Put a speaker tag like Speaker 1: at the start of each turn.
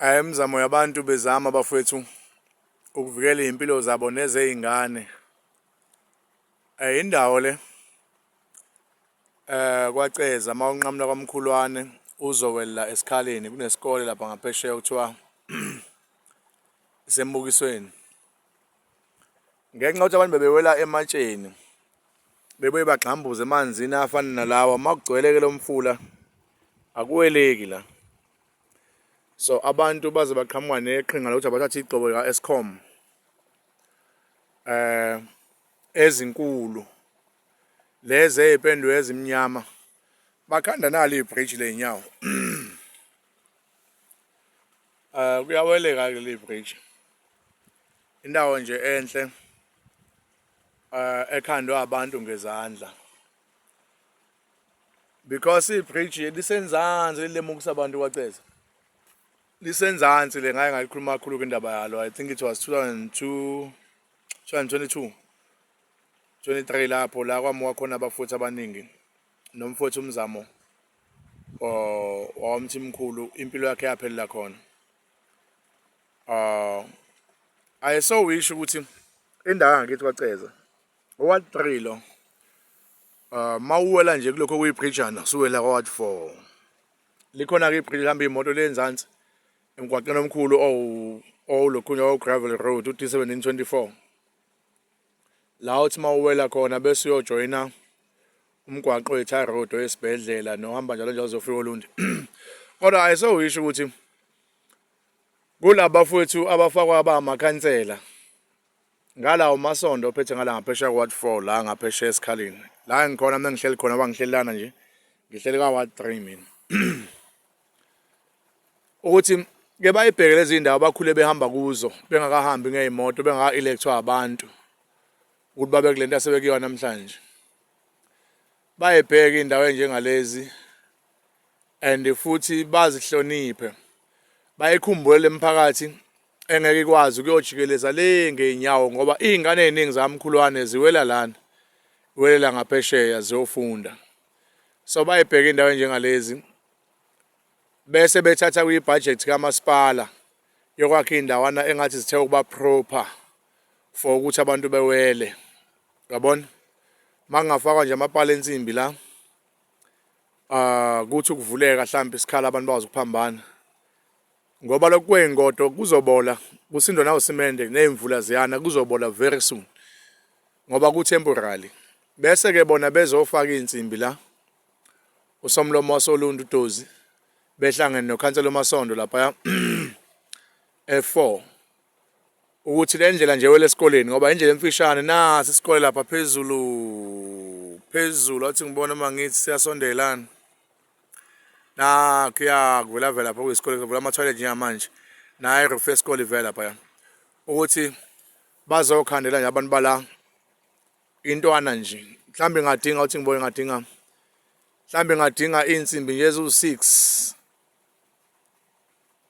Speaker 1: Eh, imizamo yabantu bezama bafowethu ukuvikela izimpilo zabo nezeyingane eh indawo le eh kwaceza uma unqamula kwamkhulwane uzowela esikhaleni kunesikole lapha ngaphesheya kuthiwa isembukisweni ngenxa yokuthi abantu bebewela ematsheni bebuye bagxambuze emanzini afana nalawa uma kugcweleke lo mfula akuweleki la so abantu baze baqhamuka neqhinga lokuthi abathathe igxobo lika-escom um eh, ezinkulu lezi ey'pendwe ezimnyama bakhanda nalo ibhriji ley'nyawo um eh, kuyaweleka-ke le bhriji indawo nje enhle uh, ekhandwe abantu ngezandla because ibridge lisenzansi lilemukisa abantu kwaceza lisenzansi le ngaye ngalikhuluma kakhulu kwindaba yalo i think it was 2002 2022 23 lapho la kwamuka khona abafuthi abaningi nomfowethu umzamo wawamthi mkhulu impilo yakhe yaphelela khona Ah I so wish ukuthi indawo yangakithi kwaceza oward 3 lo uh mawuwela nje kulokho kuyibridgana suwela kwaward 4 likhona ke ibridge lihamba imoto lenzansi emgwaqeni omkhulu owu owulokhunya owu gravel road u D1724 la uthi mawuwela khona bese uyojoyina umgwaqo we-tar road oyesibhedlela nohamba njalo njalo zofika olundi kodwa ayisowisho ukuthi kulaba fwethu abafakwa abamakhansela ngalawo masondo ophethe ngala ngaphesheya kwa-ward four la ngaphesheya esikhaleni la engikhona mina ngihleli khona bangihlelelana nje ngihleli ka-ward three mina ukuthi ke bayibheke lezi ndawo bakhule behamba kuzo bengakahambi ngey'moto bengaka-electhwa abantu ukuthi babe kule nto asebekuyona namhlanje bayebheke indawo enjengalezi and futhi bazihloniphe bayikhumbule lemiphakathi engeke ikwazi ukuyojikeleza le ngeenyawo ngoba iy'ngane ey'ningi zamkhulwane ziwela lana welela ngaphesheya ziyofunda so bayibheke indawo enjengalezi bese bethatha kwi-budget kamasipala yokwakha indawana engathi zithe ukuba proper for ukuthi abantu bewele yabona makungafakwa nje amapala ensimbi la ah kuthi ukuvuleka mhlawumbe isikhala abantu bawazi ukuphambana ngoba lokhu kwengodo kuzobola kusindwa nawo simende nezimvula ziyana kuzobola very soon ngoba ku temporary bese ke bona bezofaka insimbi la usomlomo wasoluntu dozi behlangene nokhansela omasondo lapha e4 ukuthi le ndlela nje wele esikoleni ngoba indlela emfishane nasi isikole lapha phezulu phezulu athi ngibona uma ngithi siyasondelana nakho iyakuvela vela lapha kuyisikole kuvula ama-toilet njengamanje naye iroof yesikole ivela laphaya ukuthi bazokhandela nje abantu bala intwana nje mhlawumbe ingadinga ukuthi ngibone ngadinga mhlawumbe ingadinga iy'nsimbi nje eziwu-six